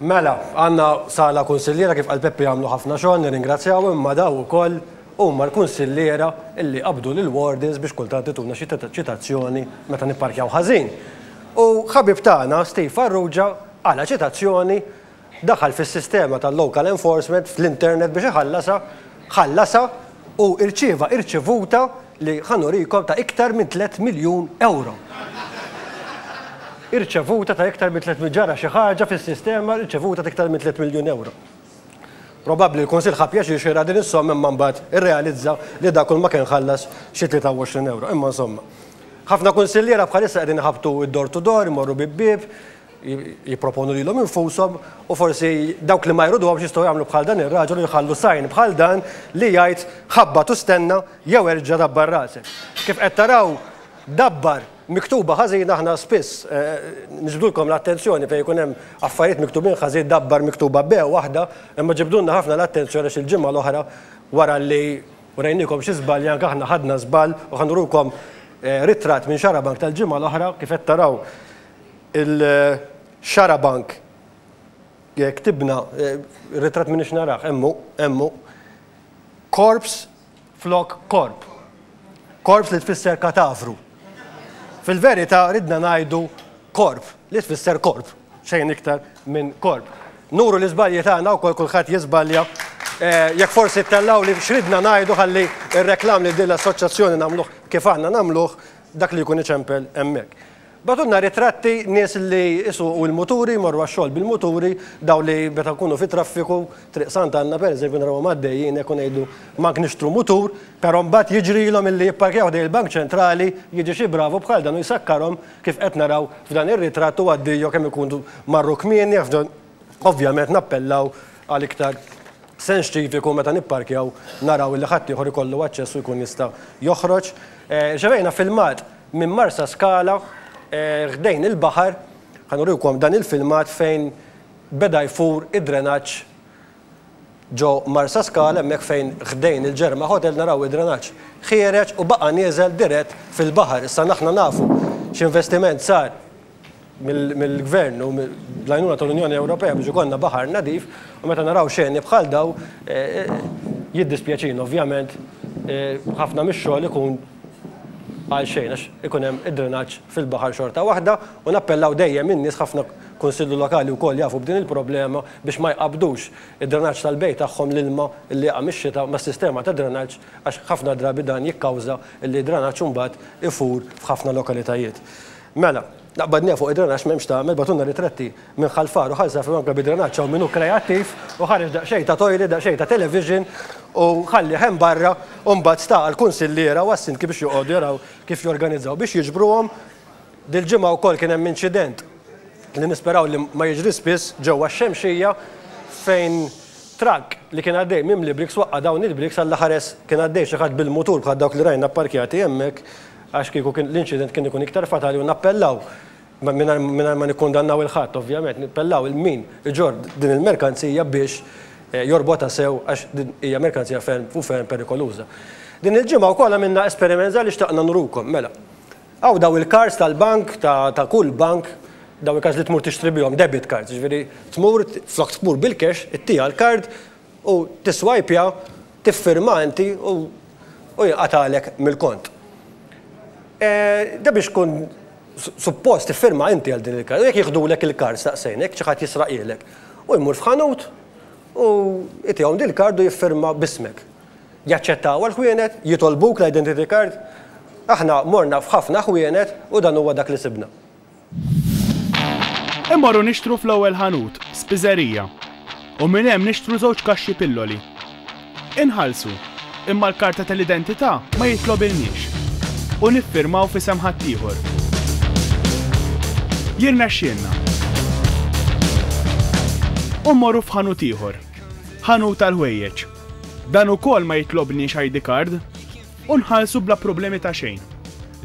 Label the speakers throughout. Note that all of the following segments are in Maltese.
Speaker 1: Mela, għandna sala kunsilliera kif qal Peppi għamlu ħafna xogħol nirringrazzjaw imma daw ukoll huma l-kunsilliera li qabdu lill-wardens biex kultant ituna xi ċitazzjoni meta nipparkjaw ħażin. U ħabib tagħna Steve Farrugia qala' ċitazzjoni, daħal fis-sistema tal-local enforcement fl-internet biex iħallasha ħallasha u irċieva irċevuta li ħa nurikom ta' iktar minn tliet miljun ewro. Irċevuta ta' iktar minn tliet ġara xi ħaġa fis-sistema rċevuta ta' iktar minn tliet miljun ewro. Probabbli l-Kunsill ħa pjaċir xieraq din is-somma imma mbagħad irrealizza li dak kulma kien ħallas xi 23 ewro. Imma insomma. Ħafna kunsilliera bħalissa qegħdin iħabbtu d-door to door, imorru bieb bieb, jipproponu lilhom infushom u forsi dawk li ma jridhomx jistgħu jagħmlu bħal dan ir-raġel u jħallu sign bħal dan li jgħid ħabbat u stenna jew erġa' dabbar rasek. Kif qed taraw dabbar miktuba ħażin aħna spiss niġbdulkom l-attenzjoni fejn ikun hemm affarijiet miktubin ħażin dabbar miktuba b' waħda imma ġibdulna ħafna l-attenzjoni għax il-ġimgħa l-oħra wara li wrejniekom xi żbalji anke aħna ħadna żball u ħa nurukom ritratt minn Xarabank tal-ġimgħa l-oħra kif qed taraw Il-xarabank ktibna, ir-ritratt m'iniex narah, hemm hu, hemm hu, corpse flok korp. Corpse li tfisser katavru. Fil-verità ridna ngħidu korp li tfisser korp, xejn iktar minn korp. Nuru l-iżbalji tagħna wkoll kulħadd jiżbalja. Jekk forsi ttellgħuli x'ridna ngħidu ħalli r-reklam lil din l-assoċjazzjoni nagħmluh kif aħna nagħmluh, dak li jkun iċempel hemmhekk. Bagħtulna ritratti nies li jsuqu l-muturi, jmorru għax-xogħol bil-muturi, dawn li meta nkunu fit-traffiku, Triq Sant'Anna pereżempju narawhom għaddejjin hekk u ngħidu m'għandk nixtru mutur, però mbagħad jiġrilhom illi jipparkjaw ħdejn il-Bank Ċentrali, jiġi xi bravu bħal dan u jsakkarhom kif qed naraw f'dan ir-ritratt u għaddiejo kemm ikunu marru kmieni, ovvjament nappellaw għal iktar Sens ċiviku meta nipparkjaw naraw illi ħaddieħor ikollu aċċess u jkun jista' joħroġ. Irċevejna filmat minn Marsaskala ħdejn il-baħar, ħa nurikom dan il-filmat fejn beda jfur id-drenaġġ ġo Marsaskala hemmhekk fejn ħdejn il-Ġerma Hotel naraw id-drenaġġ ħiereġ u baqa' nieżel dirett fil-baħar. Issa aħna nafu x'investiment sar mill-Gvern u bl-għajnuna tal-Unjoni Ewropea biex ikollna baħar nadif u meta naraw xeni bħal dawn jiddispjaċina. Ovvjament ħafna mix-xogħol ikun għal xejn għax ikun hemm id-drenaġġ fil-baħar xorta waħda u nappellaw dejjem in-nies ħafna kunsilli lokali wkoll jafu b'din il-problema biex ma jqabbdux id-drenaġġ tal-bejt tagħhom l-ilma li jaqa' mix-xita mas-sistema ta' drenaġġ għax ħafna drabi dan jikkawża li d-drenaġġ imbagħad ifur f'ħafna lokalitajiet. Mela, naqbad ngħid fuq id-drenaġġ m'hemmx tagħmel, bagħtulna ritratti minn Ħal Far u Ħal Żafrun anke bid-drenaġġ hawn min hu kreattiv u ħareġ daqsxejn ta' toilet, daqsxejn ta' television u ħallih hemm barra u mbagħad sta għall-kunsilliera u għas-sindki biex joqogħdu jaraw kif jorganizzaw biex jiġbruhom. Dil-ġimgħa wkoll kien hemm inċident li nisperaw li ma jiġri spiss ġewwa x-Xemxija fejn trakk li kien għaddej mimli briks waqqa' dawn il-briks, Alla ħares kien għaddej xi ħadd bil-mutur bħal dawk li rajna pparkjati hemmhekk Għax kieku kien l-inċident kien ikun iktar fatali u nappellaw, mingħajr ma nikkundannaw 'il ħadd ovvjament, nappellaw 'il min iġorr din il-merkanzija biex jorbotha sew għax din hija merkanzija ferm u ferm perikoluża. Din il-ġimgħa wkoll għamilna esperiment żgħar li xtaqna nurukom. Mela, hawn dawn il-cards tal-bank, ta' kull bank, dawn il-cards li tmur tixtri bihom, debit cards, jiġifieri tmur, flok tmur bil-cash, ittiha l-card, U tisswajpja, tiffirma inti u u jinqatagħlek mill-kont. Da biex tkun suppost tiffirma inti għal din il-kard. U jekk jiħdulek il-kard staqsejn, jekk xi ħadd jisraqhielek. Hu jmur f'ħanut u jtihom dil-kard u jiffirma b'ismek. Jaċċettawha l-ħwienet? Jitolbuk l-identity card? Aħna morna f'ħafna ħwienet u dan huwa dak li sibna. Immorru nixtru fl-ewwel ħanut, spiżerija, u minn hemm nixtru żewġ kaxxi pilloli. Inħallsu, imma l-karta tal-identità ma jitlobilniex u niffirmaw f'isem ħaddieħor. Jirnexxielna. U mmorru f'ħanut ieħor. Ħanut tal-ħwejjeġ. Dan ukoll ma jitlobniex ID card. u nħallsu bla problemi ta' xejn.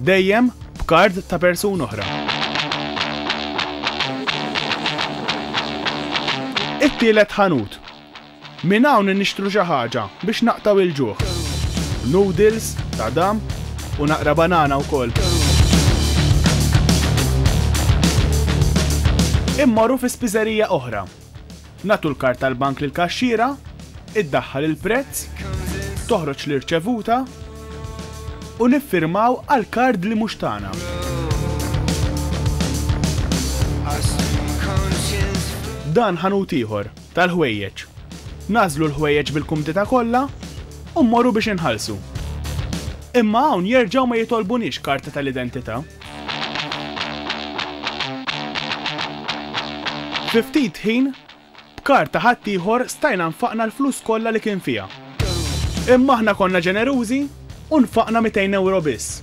Speaker 1: Dejjem b'kard ta' persuna oħra. It-tielet ħanut. Minn hawn nixtru xi ħaġa biex naqtgħu il-ġuħ. Noodles, tadam, u naqra banana wkoll. Immorru fi spiżerija oħra Nagħtu l-kard tal-bank lill-kaxxiera, iddaħħal il-prezz, toħroġ l-irċevuta, u niffirmaw għal kard li mhux tagħna. Dan ħanut ieħor, tal-ħwejjeġ. Nagħżlu l-ħwejjeġ bil-kumdità kollha u mmorru biex inħallsu. Imma hawn jerġgħu ma jitolbuniex karta tal-identità. Fi ftit ħin, b'kard ta' ħaddieħor stajna nfaqna l-flus kollha li kien fiha. Imma aħna konna ġenerużi u nfaqna mitejn ewro biss.